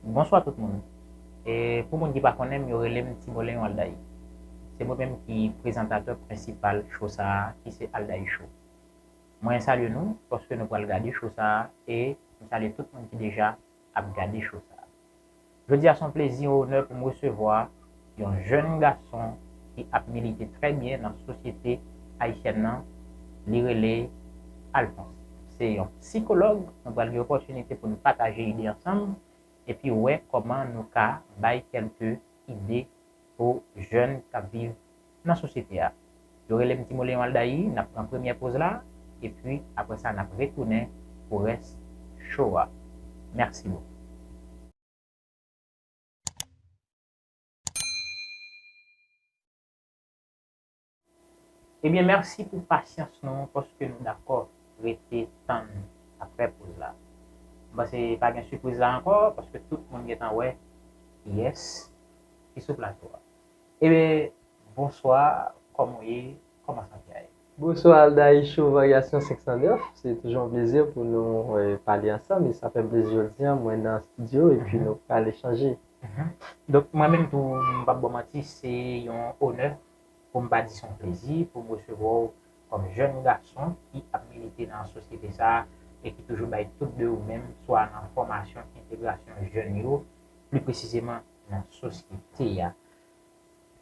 Bonswa tout moun! E pou moun ki pa konnen m, yo rele m Ti Moleyon Aldaï. Se mwen menm ki prezantatè prensipal show sa a ki se Aldaï Show. Mwen salye nou paske nou pral gade show sa a e m salye tout moun ki deja ap gade show sa a. Jodi a se yon plezi, yon onè pou m resevwa. yon jèn gason ki ap milite trè byen nan sosyete ayisyèn nan, li rele Alphonse. Se yon sikològ, nou pral gen opòtinite pou nou pataje ide ansanm epi wè kòman nou ka bay kèlke ide pou jèn k ap viv nan sosyete a. Yo rele m Timoleon Aldaï, n ap pran premyè poz la epi aprè sa n ap retounen pou rès show a. Mèsi bokou. Ebyen merci pou pasyans nou paske nou dakò rete tann aprè poz la. M panse pa gen sipriz la ankò paske tout moun gentan wè kiyès ki sou plato a. Ebyen bonswa kòman w ye kòman sante a ye. Bonswa Aldaï Show Variation 509 se toujou yon plezi pou nou pale ansanm e sa fèm plezi jodi an mwen nan studio epi nou pral echanje. Donk mwen menm tou m pap baw manti se yon onè poum pa di son plezi poum resevwa w kòm jèn gason ki ap milite nan sosyete sa e ki toujou bay tout de ou menm swa nan fòmasyon entegrasyon jèn yo pli presizeman nan sosyete a.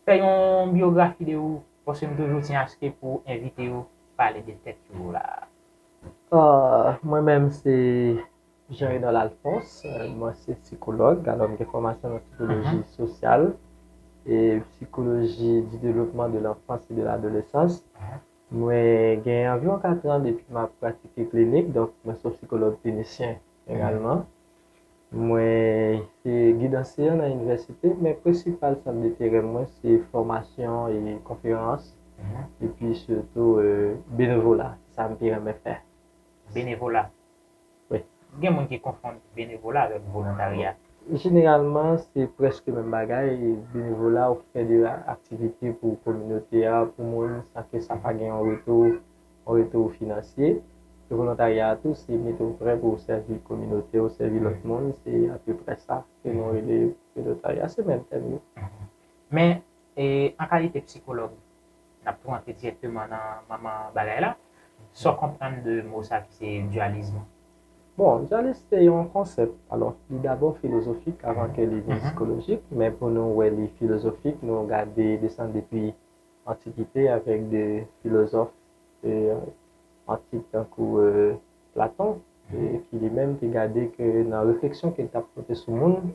Fè yon biyografi de ou paske m toujou tyen aske pou envite yo pale de tèt yo la. Mwen menm se. Jean Renol Alphonse, mwen se sikològ, alò m gen fòmasyon nan sikoloji sosyal e sikoloji di devlopman de lanfans e de ladolesans. Mwen gen anviwon katran depi m ap pratike klinik, donk mwen se yon sikològ klinisyen egalman. Mwen se gid anseyan nan inivèsite, men prensipal sant deterè mwen se fòmasyon e konferans epi sitou benevola, se sa m pi renmen fè. Benevola. Gen moun ki konfonn benevola avèk volontarya. Jeneralman, se prèske menm bagay, benevola ou fè de aktivite pou kominote a, pou moun, san ke sa pa gen yon retou, yon retou finansye. E volontarya a tou, se mete w prè pou w sèvi kominote w, sèvi lòt moun, se apeprè sa ke nou rele volotarya, se menm tèm yo. Men, an kalite psikològ, Nap tou antre direkteman nan manman bagay la. Saw konprann de mo sa ki se dualisme? Bon, dualisme se yon konsèp. Alò, li dabò filozofik avan ke li vin sikolojik. Men pou nou wè li filozofik, nou gade desann depi antikite avèk de filozòf antik tankou Platon ki li menm te gade ke nan refleksyon ke li tap pote sou moun,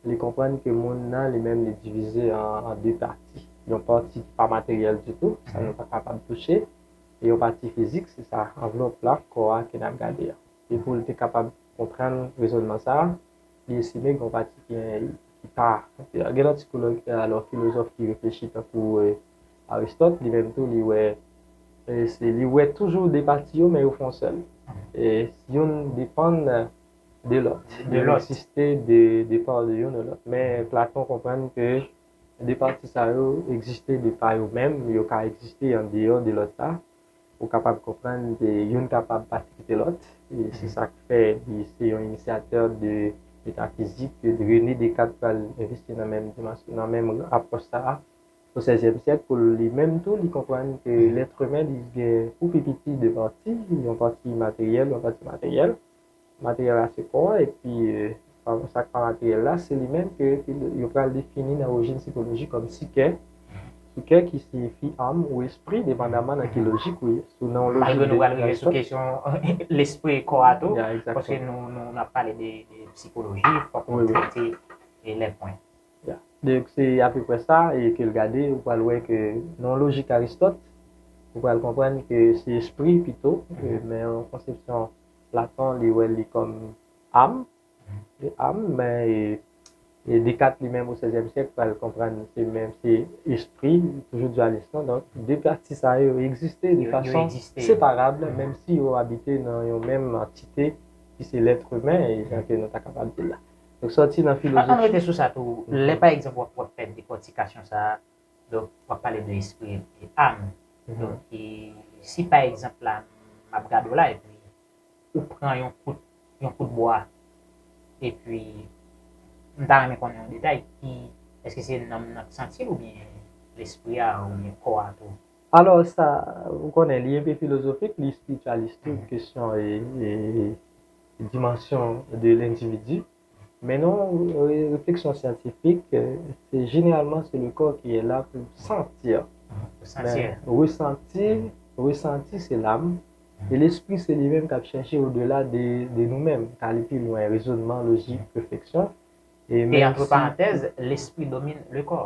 Li konprann ke moun nan li menm li divize an de pati. Yon pati ki pa materyèl ditou, sa nou pa kapab touche, e yon pati fizik, se sa, anvlop la, kò a ke n ap gade a. E pou l te kapab konprann rezònman sa a, li estime gen yon pati ki pa materyèl. Gen lòt sikològ, alò filozòf ki reflechi tankou Aristòt, li menm tou li wè, li wè toujou de pati yo men yo fè yon sèl. Youn depann. de lòt. Yo resiste de pa ou de youn ou lòt. Men Platon konprann ke de pati sa yo egziste de pa yo menm, yo ka egziste an deyò de lòt la. Ou kapab konprann ke youn kapab pa kite lòt. E se sa k fè li se yon inisyatè de metafizik ke Rene Dekat pral envesti nan menm dimansyon, nan menm apwòch sa a o sèzyèm syèk pou li menm tou li konprann ke lètremen li gen pou pi piti de pati, yon pati imateryèl, yon pati materyèl. Materyèl la se kò a epi sa k pa materyèl la se li menm ke yo pral defini nan orijin sikoloji kòm sikè, sikè ki siyifi anm ou espri depandaman nan ki lojik ou ye. Sou nan yon lojik de definasyon. Malgre nou pral rive sou kesyon lespri e kò a tou, paske nou ap pale de sikoloji, fòk nou trete lè pwen. Ya. Donk se apeprè sa e ke l gade ou pral wè ke nan yon lojik Aristòt ou pral konprann ke se espri pito men yon konsepsyon Platon li wè li kòm âme, li âme men e Descartes li menm o sèzyèm syèk pral konprann se menm se espri, li toujou dualist lan donk 2 pati sa yo yo egziste de fason separab menm si yo abite nan yon menm antite ki se l'être humain jan ke nou ta kapab di l la. Donk sòti nan filozofi. An rete sou sa tou, lè pa egzanp w ap fè dekòtikasyon sa a, Donk wap pale de espri e ame. Donk si pa egzanp la map gade w la epi ou pran yon kout yon kout bwa epi m ta renmen konnen yon detay ki eske se nanm nan k santi l oubyen lespri a oubyen kò a tou. Alò sa ou konnen li enpe filozofik li esprityalis tou kesyon e dimansyon de lendividi. Men non, refleksyon syantifik, se jeneralman se le kò ki e la pou santir. Santir. Resanti, resanti se lam, e lespri se li menm kap chèche o dela de nou menm, k ale pi lwen, rezonman, lojik, refleksyon. E antre parantèz, lespri domine le kò.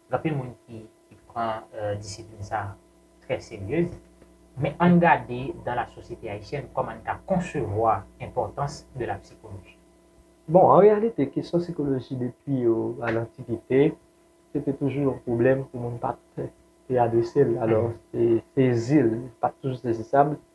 Gen anpil moun ki pran disiplin sa a trè serye, men ann gade dans la société haïtienne kòman n ka konsevwa enpòtans de la psychologie. Bon, an reyalite kesyon sikoloji depi a lantikite se te toujou yon pwoblèm ke moun pa t te adrese l, alò sezi l pa t toujou sezisab.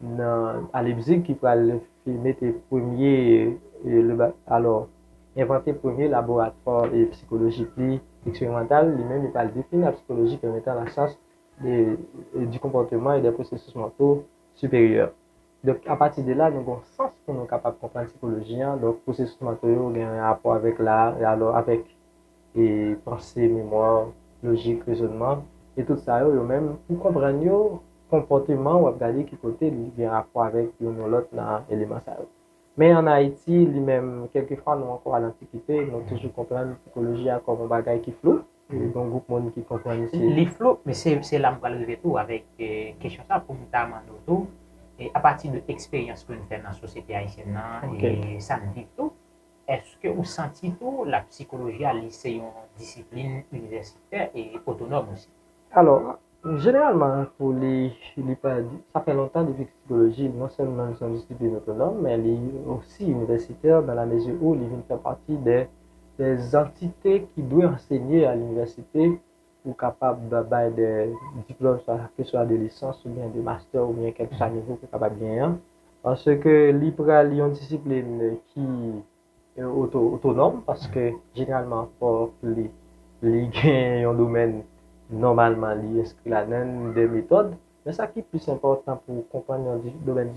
nan a Leipzig ki pral mete premye alò envante premye laboratwa psikolojik li eksperimantal li menm li pral defini la psikoloji kòm etan la syans di konpòteman e dè pwosesis manto siperyè donk a pati de la nou gon sans pou nou kapab konprann psikoloji an donk pwosesis manto yo gen rapò avèk la alò avèk e panse, memwa, lojik, rezònman, e tout sa yo, yo menm, pou konprann yo, konpòteman w ap gade ki kote li gen rapò avèk youn ou lòt nan eleman sa yo. Men ann Ayiti, li menm, kèlkefwa nou ankò al antikite, nou toujou konprann sikoloji a kòm yon bagay ki flou, gen yon gwoup moun ki konprann li se. Li flou, men se se la m pral rive tou avèk kesyon sa pou m ta mande w tou, apati de eksperyans ke n fè nan sosyete ayisyèn nan e sa n viv tou, Eske ou santi tou la psikoloji a li se yon disiplin inivèsitè e otonòm osi? Alò, jeneralman pou li, li pa, sa fè lontan depi psikoloji non sèlman li se yon disiplin otonòm men li osi inivèsitè dan la mezi ou li vin fè pati de zantite ki dwe ansenye a linivèsite ou kapab bay de diplòm sa ke swa de lisans oubyen de mastè oubyen kèlke swa nivo ke w kapab genyen an paske li pral yon disiplin ki otonòm paske jeneralman fòk li li gen yon domèn nòmalman li enskri ladann de metòd Men sa ki plis enpòtan pou ou konprann yon domèn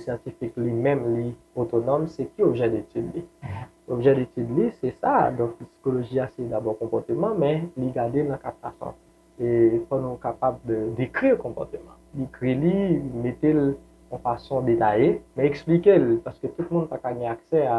syantifik li menm li otonòm se ki objè detid li. Objè detid li se sa a, donk psikoloji a se dabò konpòteman men li gade nan kat fason. E fò nou kapab dekri konpòteman, dekri li, mete l yon fason detaye men eksplike l paske tout moun pa ka gen aksè a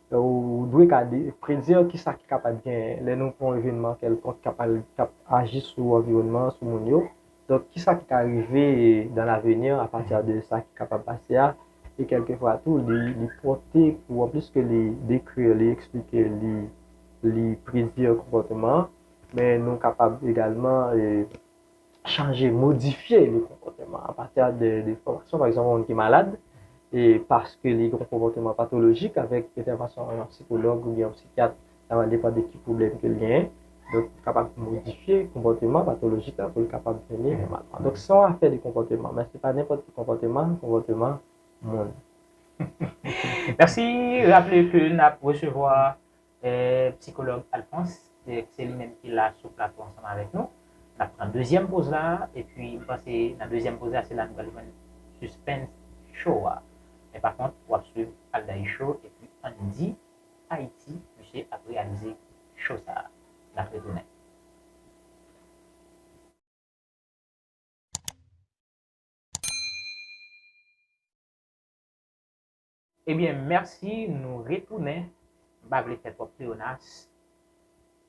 Ou dwe ka predir ki sa ki kapab genyen lè nou pran yon evenman kèlkonk kap aji sou anviwònman an, sou moun yo. Donk, ki sa ki ka rive dan laveni a pati de sa ki kapab pase a. E kèlke fwa tou, li pòte pou anplis ke li dekri, li eksplike, li predi konpòteman an, men nou kapab egalman. chanje, modifye le konpòteman apatè de enfòmasyon. Pa egzanp, yon moun ki malad, e paske li gen yon konpòteman patolojik, avèk entèvansyon yon psikològ oubyen yon psikyat, sa va depann de ki pwoblèm ke l genyen, donk li kapab modifye konpòteman patolojik la pou l kapab vini nòmalman. Donk se yon afè de konpòteman, men se pa nenpòt ki konpòteman, konpòteman moun. Mèsi, raple ke n ap resevwa. Psikològ Alphonse, se li menm ki la sou plato ansanm avèk nou. N ap pran dezyèm poz la, epi m panse nan dezyèm poz la se la nou pral jwenn sispens cho a. Men pa kont, w ap swiv Aldaï Show epi Andy Haïti, misye ap reyalize cho sa a. N ap retounen. Ebyen merci nou retounen m pa vle fè twòp pleyonas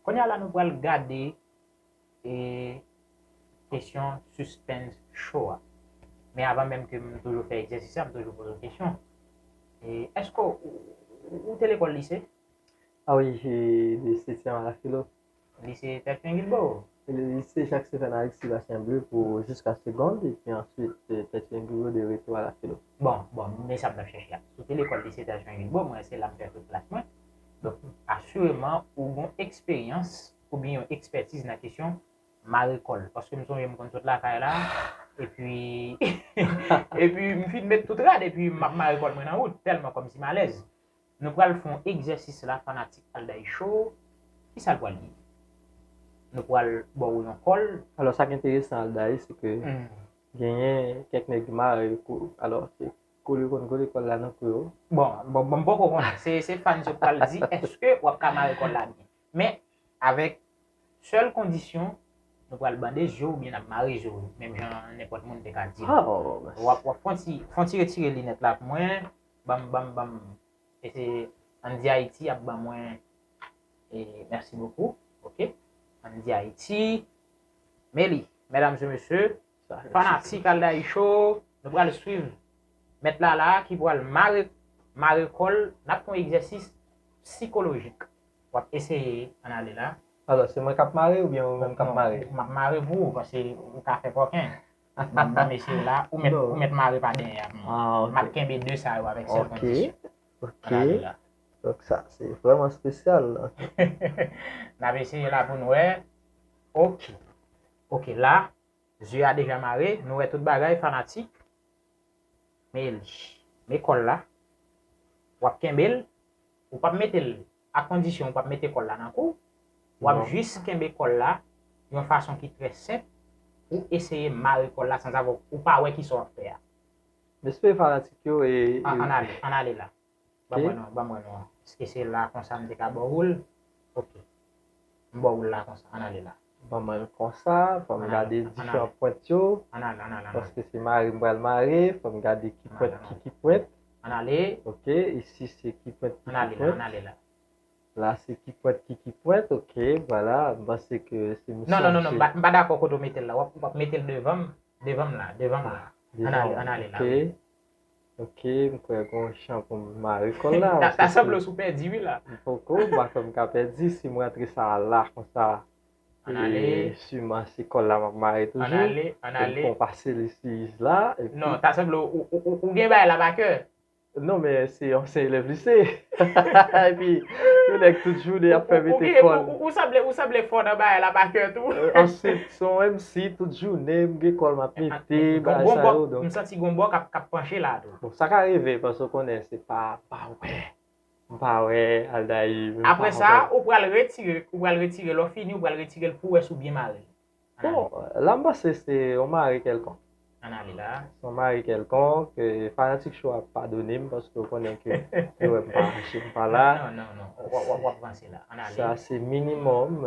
kounya la nou pral gade e kesyon suspens show a men avan menm ke m toujou fè egzèsis la m toujou poze w kesyon e èske w te lekòl lise? Ah wi, de setyèm a la filo. Lise Tèt Fingil Bo! Se le Lise Jacques Stephen Alexis Bastien Bleu pou jiska segond epi answit Tèt Fingil Bo de retou a la filo. Bon, bon, m gen sa m t ap chèche a. Sou te lekòl Lise Tèt Fingil Bo, mwen se la m fè tout klas mwen. Donk, asireman ou gon eksperyans oubyen yon ekspètiz nan kesyon mare kòl. Paske m sonje m konn sot lakay la, epi, epi m fin met tout rad epi m ap mare kòl mwen nan wout, tèlman kòm si m alèz. Nou pral fon egzèsis la fanatik Alday show kisa l pral ye? Nou pral ba w yon kòl. Alò sak enteresan Alday se ke genyen kèk nèg ki mare kou alò se kou li konn kole kòl la nan kou yo. Bon, bon m poko konnen se fans yo k pral di eske wap ka mare kòl la byen. Men, avèk sèl kondisyon, nou pral bande je w oubyen n ap mare je w, menm jan nenpòt moun te ka di m. W ap fon ti, fon ti retire linèt la pou mwen, banm, banm, banm, e se Andyayiti ap ban mwen, e mèsi bokou, ok, Andyayiti, Meli, medam e mesye, fanatik Aldayisho, nou pral swiv Mèt Lala ki pral mare, mare kò l, n ap fon egzèsis psikolojik. wap eseye an ale la. Alò se mwen kap mare oubyen ou menm kap mare? Non, map mare pou ou paske ou ka fè kòken. Pat ba mesye yo la, ou mèt mare pa dèyè avm. Map kenbe 2 sa yo avèk sèl kondisyon. An ale la. Donk sa se vrèman spesyal. Nap eseye la poun wè. Ok. Ok la, zye a deja mare, nou wè tout bagay fanatik. Men li. Men kòl la. Wap kenbel, Ou pap mete l a kondisyon ou pap mete kòl la nan kou, wap jis kenbe kòl la yon fason ki trè senp pou eseye mare kòl la sanzave ou pa wè kisa wap fè a. Respè fanatik yo e. An ale, an ale la. Banm wè non, banm wè non. Eske se la konsa m te ka bò woul? Ok. M bò woul la konsa, an ale la. Banm al konsa fòm gade diferan pwent yo paske se mare m pral mare fòm gade ki pwent ki ki pwent ok isi se ki pwent ki ki pwent la se ki pwent ki ki pwent ok vwala m panse ke se misye non non non m pa dakò kote w mete l la wap mete l devan m devan m la devan m la an ale an ale la wi. Ok, m kwè gon chan pou m mare kòl la. Ta sanble sou pèdi wi la. M poko, m pa kwè m ka pèdi si m rantre sa a la konsa. An ale. E siman se kòl la m ap mare toujou. An ale, an ale. Pou m pase li sou is la. Non, ta sanble ou gen bagay la pa kè. Non men se yon ansyen elèv lise. Epi yon nèg tout jounen ap fè mete kòl. Ou sanble fò nan bagay la pa kè tou. Ansit. Son MC tout jounen m gen kòl map mete bagay sa yo donk. M santi gon bò kap panche la tou. Bon sa ka rive paske ou konnen se pa pa wè m pa wè Aldaïr m pa wè. Aprè sa ou pral retire ou pral retire lè w fini ou pral retire l pou wè si w byen mare l. Bon la m panse se yon mare kèlkonk. Ann ale la. Se yon mare kèlkonk fanatik cho a padone m paske yo konnen ke yo wè m pa panche m pa la. Non non non wap vanse la ann ale. Sa se minimòm.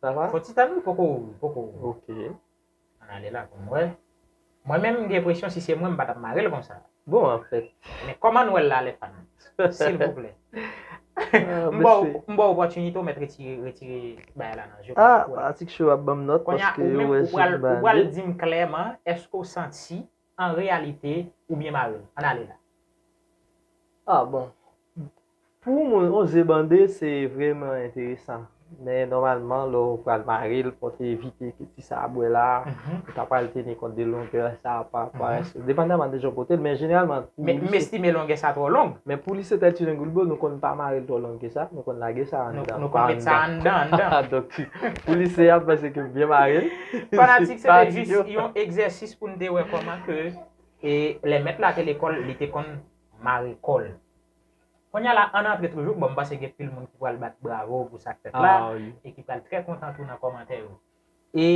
Sa va? Fò Titan wi poko poko Ok. An ale la pou m wè. Mwen menm m gen presyon si se mwen m pa t ap mare l konsa. Bon anfèt. Men kòman n wè l la lè fan? Silvouplè. M ba w m ba w opòtinite w mèt retire retire bagay la nan je w. Ah atik cho yo ap ban m nòt paske yo wè je m bale. Kounye a ou menm ou pral ou pral di m klèman èske w santi an reyalite ou byen mare l ann ale la. Ah bon. Pou mwen on ze bande se vreman enteresan men nòmalman lè w pral mare l fò w te evite ke ti sa a bwè la ou ta pral teni kont de longè sa a pa parèske depandaman de jan w pote l men jeneralman pou li se M estime longè sa twò long. Men pou li se tèt yon goulbo nou konn pa mare l twò long ke sa nou konn lage sa anndan pa anndan pa anndan donk pou li se a m panse ke m byen mare l. Fanatik se te jis yon egzèsis pou n te wè kòman ke lè mèt la te lekòl li te konn mare kò l. Kounya la ann antre toujou, bon m panse gen pil moun ki pral bat bravo pou sa k fèt la e ki pral trè kontan tou nan kòmantè yo. E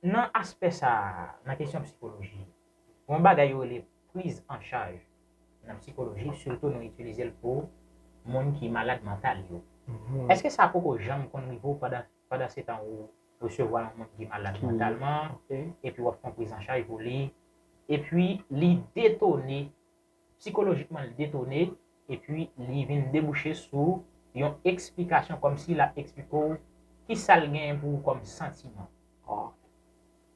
nan aspè sa a, nan kesyon psikoloji, gon bagay yo rele priz an chaj nan psikoloji sitou nou itilize l pou moun ki malad mantal yo. Eske sa poko janm konn rive w pandan pandan se tan ou resevwa yon moun ki malad mantalman epi wap fè yon prizanchaj pou li epi li detone psikolojikman li detone epi li vin debouche sou yon eksplikasyon kòmsi lap eksplike w kisal genyen pou ou kòm santiman.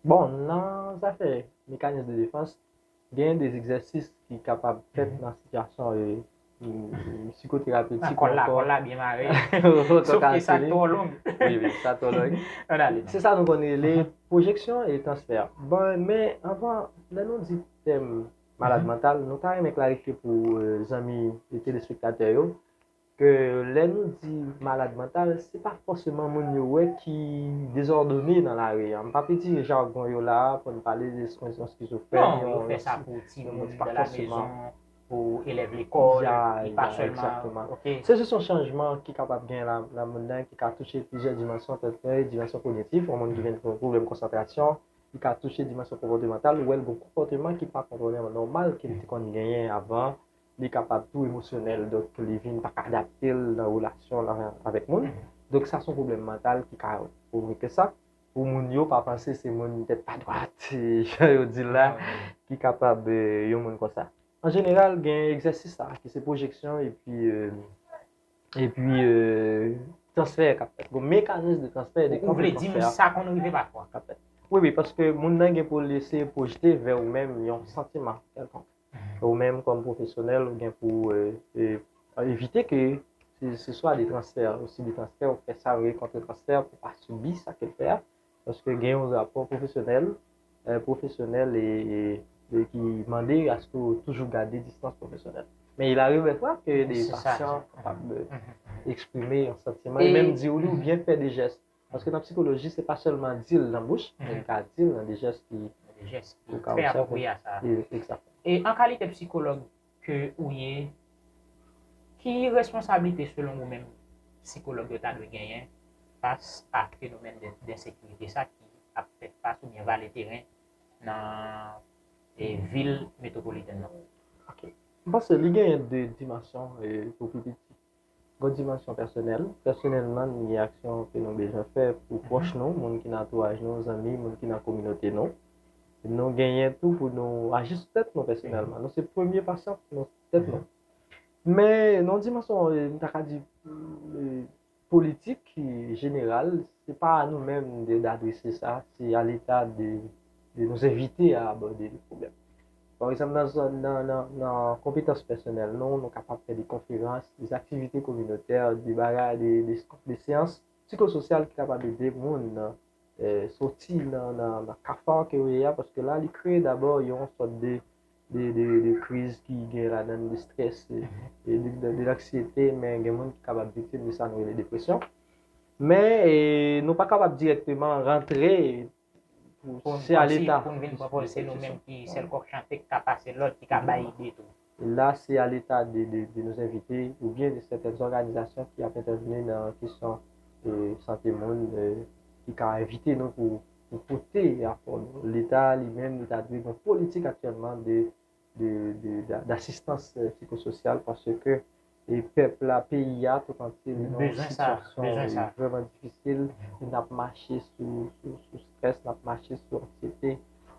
Bon nan zafè mekanis de defans Genyen de egzèsis ki kapab fèt nan sitiyasyon psikoterapetik. Kòl la, kòl la byen mare. Sof ke sa twò long. Wi, wi, sa twò long. An ale. Se sa nou konn rele pwojeksyon e transfè. Bon, men anvan, lè nou di tèm malad mantal, nou ta renmen klarifye pou zanmi telespektatè yo, Ke lè nou di malad mantal, se pa fòseman moun yo wè ki dezòdone nan lari an. M pap itilize jargon yo la a pou n pale de yon skizofrèn, yon. Non, yo fè sa pou timoun nan lamezon, pou elèv lekòl, li pa sèlman. Se jis yon chanjman ki kapab gen nan moun nan ki ka touche plizyè dimansyon tèl ke dimansyon kognitif, yon moun ki gen pwoblèm konsantrasyon, li ka touche dimansyon konpòtemantal, ou wè l gen konpòteman ki pa konpòteman nòmal ke li te konn genyen avan li kapab tou emosyonèl donk pou li vin pa ka adapte l nan relasyon l avèk moun donk sa son pwoblèm mantal ki ka pwovoke ke sa pou moun yo pa panse se moun tèt pa dwat jan yo di l la ki kapab yon moun konsa an jeneral gen egzèsis sa ki se pwojeksyon epi epi transfè k ap fèt gon mekanis de transfè de konfè k ap fèt sa konn rive pafwa wi wi paske moun nan gen pou l eseye pwojte vè ou menm yon santiman kèlkonk. Ou menm kòm pwofesyonèl ou gen pou ou evite ke se swa de transfè ou sibi transfè ou fè sa yo rele kontre transfè pou pa sibi sa ke l fè a paske gen yon rapò pwofesyonèl pwofesyonèl e ki mande aske ou toujou gade distans pwofesyonèl men il arive dè fwa ke de pasyan kapab eksprime yon santiman e menm di ou li ou byen fè de jès Paske nan psikoloji se pa sèlman di l nan bouch, men li ka di l nan de jès ki trè apwopriye a sa. E an kalite psikològ ke ou ye, ki responsablite selon ou menm psikològ yo ta dwe genyen fas a fenomèn densekirite sa ki ap fè fas oubyen vale teren nan vil metwopolitèn nan? Ok. M panse li genyen de dimansyon pou pi piti. Gon dimansyon pèsonèl, pèsonèl nan nou gen aksyon ke nou bezwen fè pou pwòch nou, moun ki nan antouraj nou, zanmi, moun ki nan kominote nou. Nou genyen tou pou nou aji sou tèt nou pèsonèlman. Nou se premye pasyan pou nou tèt nou. Men nan yon dimansyon m ta ka di politik jeneral, se pa a nou menm de adrese sa, se a leta de nou envite a abòde le pwoblèm. Pa egzanp, nan zòn nan konpetans pèsonèl nou, nou kapab fè de konferans, de aktivite kominotè, de bagay, de seyans psikososyal ki kapab ede moun nan soti nan kafar ke yo ye a, paske la li kreye dabò yon sòt de kriz ki gen ladan de strès, de lanksyete, men gen moun ki kapab viktim de sa nou rele depresyon. Men nou pa kapab direkteman rantre. Se a leta pou n vin pran pòz se nou menm ki sèl kòk chante ki ka pase lòd ki ka bay ide tou. La se a leta de nou envite ou byen de sètèn zòganizasyon ki ap entèvni nan kesyon sante moun ki ka envite nou pou pote apò nou. Leta li menm li ta dwe gen yon politik aktyèlman de de d'assistans psychosocial parce que e pèp la peyi a tout antye li nan yon sitiyasyon vreman difisil e nap mache sou strès nap mache sou anksyete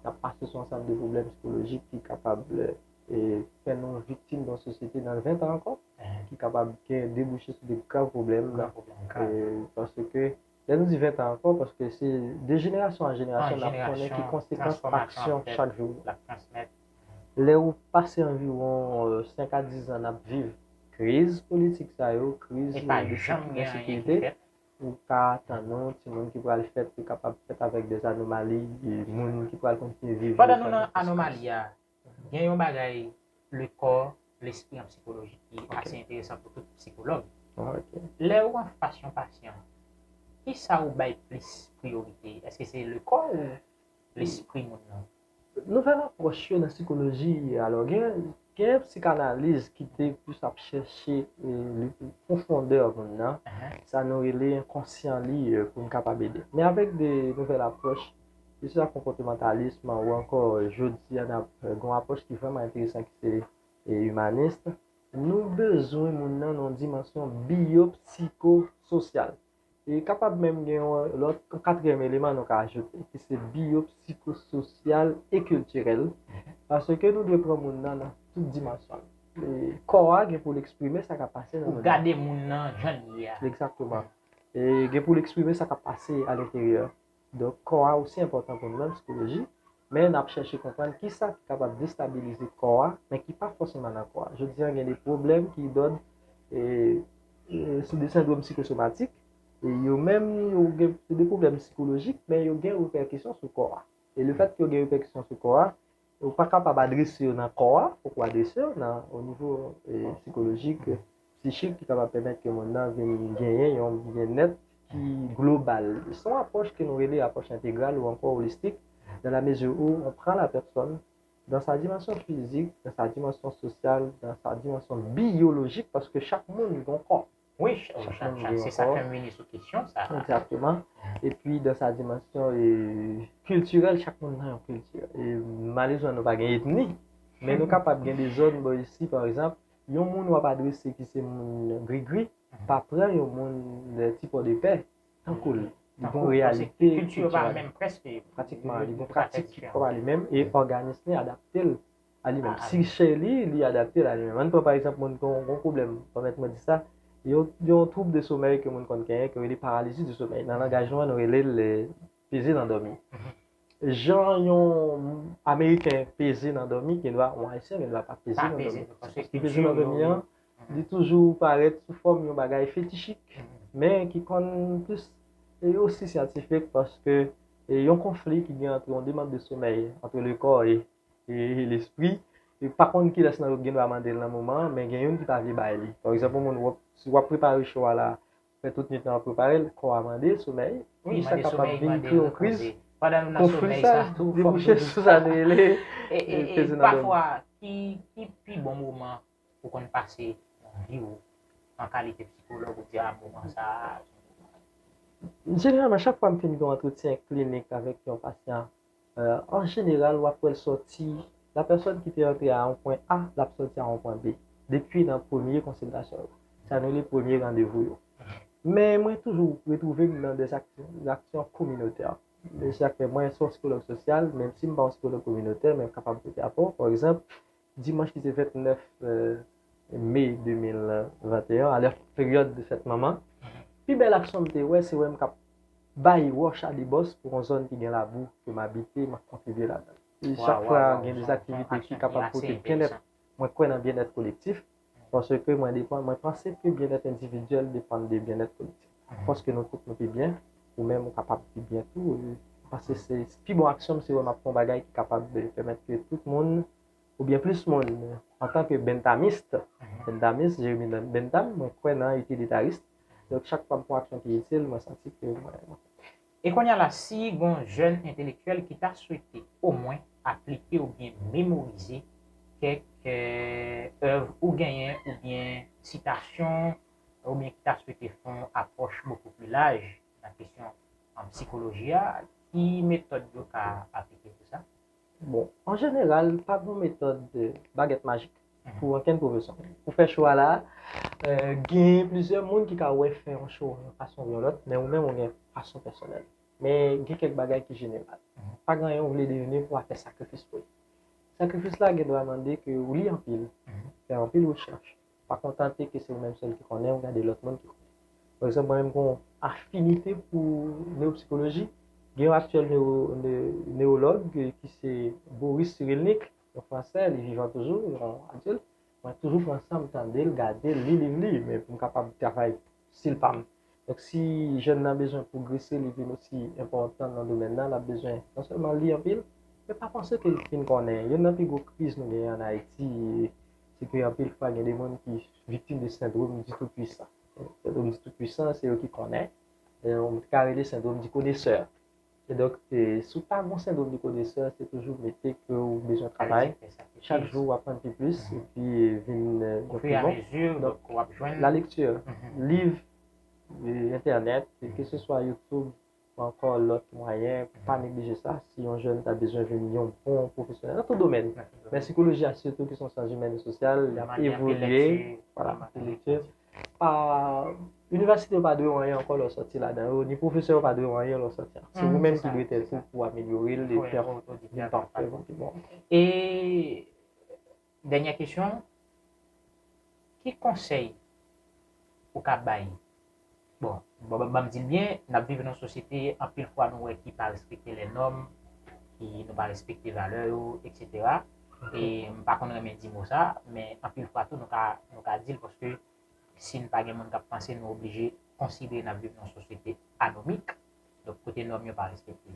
nap mache sou ansanm de pwoblèm psikolojik ki kapab e fè nou viktim nan sosyete nan 20 tan ankò ki kapab gen debouche sou de grav pwoblèm e parce que Lè nou di 20 tan ankò, paske se de jenerasyon an jenerasyon nap konnen ki konsekans aksyon chak jou yo. Lè ou pase anviwon 5 a 10 zan nap viv kriz politik sa yo, kriz ensekirite, ou ka atann ou timoun ki pral fèt yo kapab fèt avèk dè anomali, moun ki pral kontinye viv yo san jistis. Gen yon bagay le kò, lespri an psikoloji ki ase enteresan pou tout psikològ. Lè ou an fas yon pasyan, ki sa ou bay plis priyorite? Eske se le kò ou lespri moun nan? Nouvèl apwòch yo nan psikoloji, alò gen psikanaliz ki te plis ap chèche pwofondè moun nan, sa nou rele enkonsyan li pou n kapab ede. Men avèk de nouvèl apwòch, Ke se ta konpòtemantalism ou ankò jodi a n ap gen yon apwòch ki vrèman enteresan ki se imanist, nou bezwen moun nan nan yon dimansyon biyopsikososyal. E kapab menm gen yon lòt, yon katriyèm eleman nou ka ajoute ki se biyopsikososyal e kiltirèl paske nou dwe pran moun nan nan tout dimansyon l. Kò a gen pou l eksprime sa k ap pase nan moun nan. Pou gade moun nan jan l ye a. Egzakteman. Gen pou l eksprime sa k ap pase alenteryè. Donk, kò a osi enpòtan pou nou menm psikoloji, men n ap chèche konprann ki sa ki kapab destabilize kò a, men ki pa fòseman nan kò a. Jodi an gen de pwoblèm ki dòd se de sendwom sikosomatik, e yo menm yo gen se de pwoblèm sikolojik, men yo gen repèkisyon sou kò a. E lefètke yo gen repèkisyon sou kò a, Ou pa kapab adrese yo nan kò a, fòk ou adrese yo nan o nivo sikolojik, psichik ki kapab pèmèt ke moun nan vin genyen yon byennèt ki global. Se yon apwòch ke nou rele apwòch entegral ou ankò olistik dan la mezi ou on pran la pèsòn dan sa dimansyon fizik, dan sa dimansyon sosyal, dan sa dimansyon biyolojik paske chak moun gen yon kò. Wi, se sa fèm vini sou kesyon sa. Exactement. E pi dan sa dimansyon e kiltirèl chak moun nan yon kilti. E malezman nou pa gen etni. Men nou kapab gen de zòn bò isi pa egzanp, yon moun wap adrese ki se moun grigri, pa pran yon moun ti pòdepè tan koul. Li gon reyalite. Kilti yo pa menm preske. Pratikman li gon pratik ki pa li menm e òganisme adapte l. a li menm. Si chè li, li adapte l a li menm. An n pran pa egzanp moun ki gen yon pwoblèm, pèmèt mwen di sa, gen yon twoub de somèy ke moun konn genyen ke yo rele paralizi di somèy. Nan langaj nou an, nou rele l peze nan dòmi. Jan yon ameriken peze nan dòmi, gendwa yon ayisyen gendwa pa peze nan dòmi. Paske peze nan dòmi an, li toujou parèt sou fòm yon bagay fetichik, men ki konn plis e osi syantifik paske yon konfli ki gen antre yon demand de somèy, antre le kò e e lespri e pa konn kilès nan yo ki gen dwa mande l nan moman an men gen youn ki pa vle bay li pa egzanp yon moun wòp si wap prepare cho a la fè tout nwit lan wap prepare l kò a mande l somèy ki sa kapab vin kreye yon kriz konfli sa debouche sou sa nou rele peze nan dòmi. Pafwa ki pi bon moman ou konn pase nan vi w an kalite psikològ ou di a moman sa a. Jeneralman chak fwa m fin gen yon antretyen klinik avèk yon pasyan An jeneral, w ap wè l sòti, lapèsòn ki te antre a yon pwen A, l ap sòti a yon pwen B, depi nan premye konsiltasyon yo, sa nou rele premye randevou yo. Men mwen toujou retwouve m nan dè aksyon kominotè. Se sa k fè mwen se yon sikològ sosyal, menm si m pa yon sikològ kominotè, men m kapab pote apò. Pa egzanp, Dimanch ki se 29 Me 2021 a, lè peryòd fèt manman, pi bèl aksyon m te wè se wè m k ap bay wòch a debòs pou yon zòn ki gen labou ke m abite, m ap kontribye ladan l. Chak fwa gen dezaktivite ki kapab pote byennèt, mwen kwè nan byennèt kolektif. Paske mwen depan, mwen panse ke byennèt endividyèl depann de byennèt kolektif. Paske nou tout nou pi byen, ou menm ou kapab pi byen tou. Mwen panse se pi bon aksyon m se wè m ap fè yon bagay ki kapab pèmèt ke tout moun oubyen plis moun antan ke benntamist, benndamis, Jeremi Bentham, mwen kwè nan itilitarism. Donk chak fwa m fè yon aksyon ki itil, mwen santi ke mwen. E konnya la si gon jèn entelektyèl ki ta swete omwen aplike oubyen memorize kèk èv ou genyen oubyen sitasyon oubyen ki ta swete fè yon apwòch bokou pli laj nan kesyon sikoloji a, ki metòd yo ka aplike pou sa? Bon, an jeneral, pa gen yon metòd bagèt majik pou ankenn pwofesyon. Pou fè chwa la, gen plizyè moun ki ka wè fè yon chwa yon fason oubyen yon lòt, men ou menm ou gen fason pèsonèl ou. Men gen kèk bagay ki jeneral. Pa gen anyen ou vle deveni pou w pa fè sakrifis pou li. Sakrifis la gendwa mande ke ou li anpil, fè anpil rechèch, Pa kontante ke se ou menm sèl ki konnen, gade lòt moun ki konnen. Pa egzanp, mwen menm gen yon afinite pou newopsikoloji. Gen yon aktyèl newològ ki se Boris Cyrulnik, yon Fransè, li vivan toujou, yon adilt. Mwen toujou pran san m tande l, gade l, li liv li, men pou m kapab travay Stil pam. Donk si jèn nan bezwen pwogrese li vin osi enpòtan nan domèn nan, l ap bezwen non sèlman li anpil, men pa panse ke l fin konnen. Youn nan pi gwo kriz nou genyen an Ayiti se ke anpil fwa gen de moun ki viktim de sendwom di tou pwisan. Sendwom di tou pwisan se yo ki konnen, ou ka rele sendwom di konesè. Kidonk, si w pa gen yon sendwom de konesè, se toujou mete ke w bezwen travay, chak jou w aprann pi plis, epi vin yon pi bon. Donk, la lekti, liv, entènèt, ke se swa YouTube, ou ankò lòt mwayen, pa neglije sa, si yon jèn ta bezwen vin yon bon pwofesyonèl, nan tout domèn, men sikoloji a sitou ki se yon syans imèn e sosyal, li ap evolye, wala, se lekti. pa Inivèsite yo pa dwe w anyen ankò lè w sòti ladan yo, ni pwofesè yo pa dwe w anyen lè w sòti ak Se oumenm ki dwe tèt ou pou w amelyore l epi fè yon vin pafè pou pi bon E dènyè kesyon, ki konsèy ou ka bay Bon, banm di l byen, n ap viv nan yon sosyete anpil fwa nou wè ki pa respekte lè nòm, ki nou pa respekte valè yo, eksetera. e m pa konn renmen di mo sa, men anpil fwa tou nou ka di l paske si n pa gen moun k ap panse nou oblije konsidere n ap viv nan yon sosyete anomik, donk kote nòm yo pa respekte.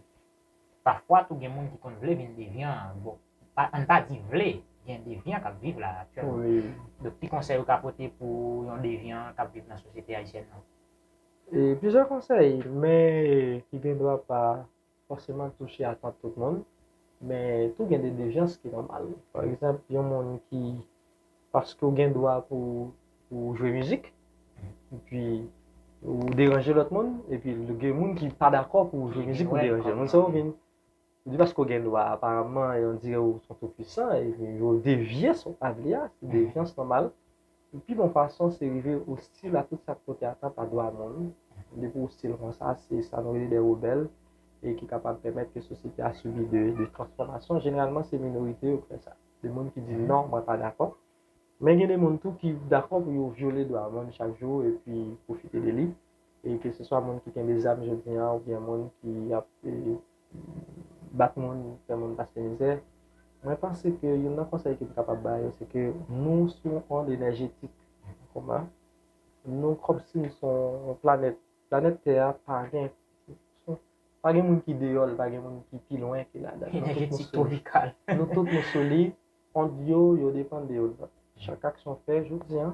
Pafwa tou gen moun ki konn vle vin devyan, bon an n pa di vle, gen devyan k ap viv la aktyèlman. Donk ki konsèy ou ka pote pou yon devyan k ap viv nan sosyete ayisyèn nan? Plizyè konsèy men ki gendwa pa fòseman touche atant tout moun, men tou gen de dejans ki nòmal. Pa egzanp, yon moun ki, paske ou gen dwa pou ou jwe mizik, epi ou deranje lòt moun, epi gen moun ki pa dakò pou ou jwe mizik ou deranje moun, sa ou vin di paske ou gen dwa, aparamman, yon di ou son tou pwisan, epi ou devye sa ou pa vle a, se dejans nòmal. Yon pi bon fason se rive ostil a tout sa k pote atant a dwa moun. Depi w ostil konsa, se sa nou rele de rebèl e ki kapab pèmèt ke sosyete a sibi de transfòmasyon. Jeneralman se minorite yo k fè sa, de moun ki di non, mwen pa dakò. Men gen de moun tou ki dakò pou yo vyole dwa moun chak jou epi pwofite de li, e keseswa moun ki kenbe zam jodi an oubyen moun ki ap. bat moun, fè moun pase mizè. Mwen panse ke youn nan konsèy ke m kapab ba yo se ke nou sou yon ond enèjetik koma. Nou kòmsi nou son yon planèt. Planèt tè a pa gen, pa gen moun ki deyò l, pa gen moun ki pi lwen ke ladan l. Enèjetik twopikal. Nou tout nou sou li. Ond yo, yo depann de yonn lòt. Chak aksyon w fè jodi an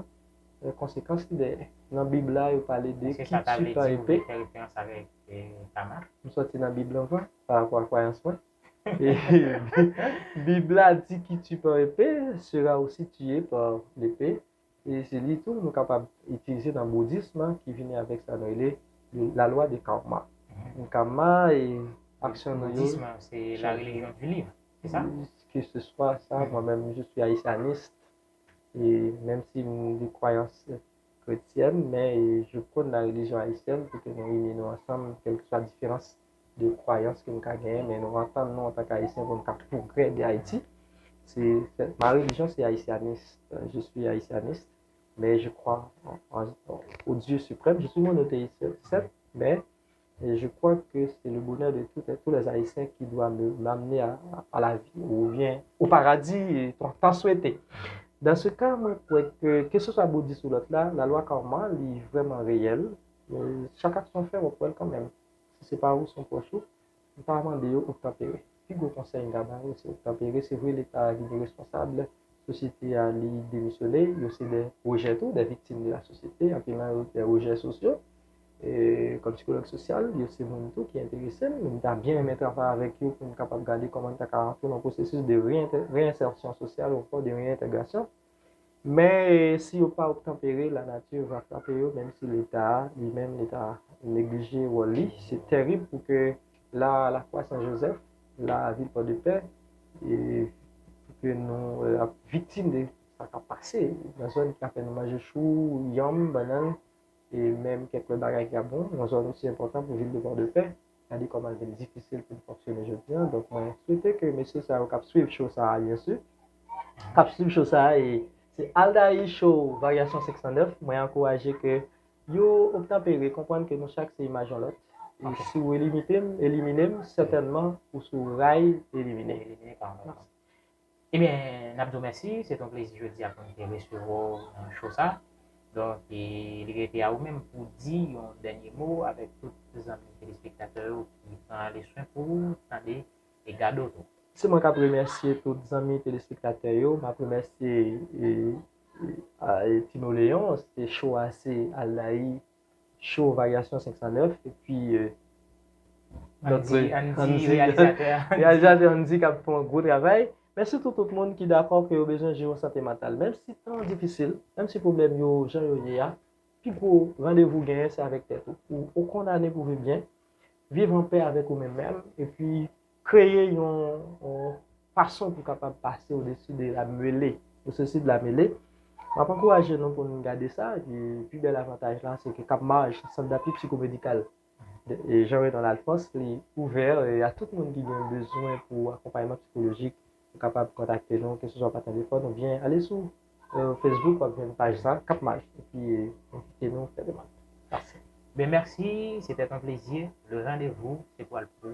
gen konsekans li dèyè. Nan Bib la, yo pale de ki titan epe. M soti nan Bib la ankò, parapò a kwayans mwen. Bib la di ki titan epe sera osi tiye pa lepe. E se li tou nou kapab itilize nan boudism lan ki vini avèk sa nou rele la lwa de karma. Karma e aksyon nou yo. Boudism lan se la relijyon di liv, se sa? Ke se swa sa, mwen menm je suis haitianiste e menm si m de kwayans kretyèn men je pwone la relijyon ayisyèn pou ke nou ini nou ansanm kèlkeswa diferans de kwayans ke nou ka genyen, men nou antann nou antank Ayisyen pou nou ka pwogrè de Ayiti. Ma relijyon se Ayisyanis, je swi Ayisyanis, men je kwa o Dye siprèm, je swi monoteyis, sèt, men je kwa ke se le bonè de tou lè Ayisyen ki dwa m'amne a la vi, ou byen, o paradi, tan swete. Dan se ka, mwen kwè ke, ke se swa Boudis ou lòt la, la lwa karma li vrèman reyèl, chak aksyon fè wap wèl kanmenm. Si se pa ou, se yon pwòch ou, ou ta mande yo obtanpere. Pi gwo konsèy m ka ba yo, se obtanpere. Se vre Leta a li gen responsab, sosyete a li demisyone, yo se de rejè tou, de viktim de lasosyete, anpil nan yo de rejè sosyo. Kòm sikològ sosyal, yo se moun tou ki enterese m, m ta byen renmen travay avèk yo pou n kapab gade kòman n ta ka antre nan yon pwosesis de reyensèrsyon sosyal onkò, de reyentègrasyon. Men si yo pa obtanpere la nature va frape yo menm si leta a li menm li ta neglije wòl li se tèrib pou ke la la fwa san Joseph la vil pò de pè e pou ke nou ap viktim de sa kap pase nan zòn ki ap fè nou manje chou yanm bannann e menm kèk lòt bagay ki ap bon nan zòn osi enpòtan pou vil de pò de pè. Gade koman l vin difisil pou n fonksyone jodi an. Donk mwen swete ke mesye sa yo k ap swiv show sa a byensi, k ap swiv show sa a e se Aldaï show Varyasyon 509, mwen ankouraje ke yo obtanpere, konprann ke nou chak se imaj yon lòt. E si ou elimite m, elimine m, sètènman ou sou ray elimine. Elimine pa mwa. Ebyen nap di w mèsi, se te yon plezi jodi a pou n te resevwa w nan show sa. Donk li rete a ou menm pou w di yon dènye mo avèk tout zanmi telespektatè yo ki pran ale swen pou ou, tande e gade w tou. Se mwen kap remèsye tout zanmi telespektatè yo, map remèsye Tino Leon, se show a se Aldaï Show Varyasyon 509 epi Andy Reyalizatè a Reyalizatè Andy k ap fè yon gwo travay Men sitou tout moun ki dakò ke yo bezwen jere yon sante mantal Menm si tan an difisil, menm si pwoblèm yo jan yo ye a Pi gwo randevou w genyen se avèk tèt ou Ou kondane pou viv byen Viv an pè avèk ou menm menm epi Kreye yon fason pou kapab pase odesi de la mele ou sesi de la mele. M ap ankouraje nou pou n gade sa. Epi pi bèl avantaj la se ke Kap Maj, Sant Dapi Psikomedikal Jean Renald Alphonse, li ouvè a tout moun ki gen bezwen pou akonpayman psikolojik. Ou kapab kontakte nou keseswa pa telefòn oubyen ale sou Facebook w ap jwenn paj sa, Kap Maj. Epi envite nou fè demann. Mèsi. Ben mèsi, se tèt an plezi. Le randevou se pwal pou.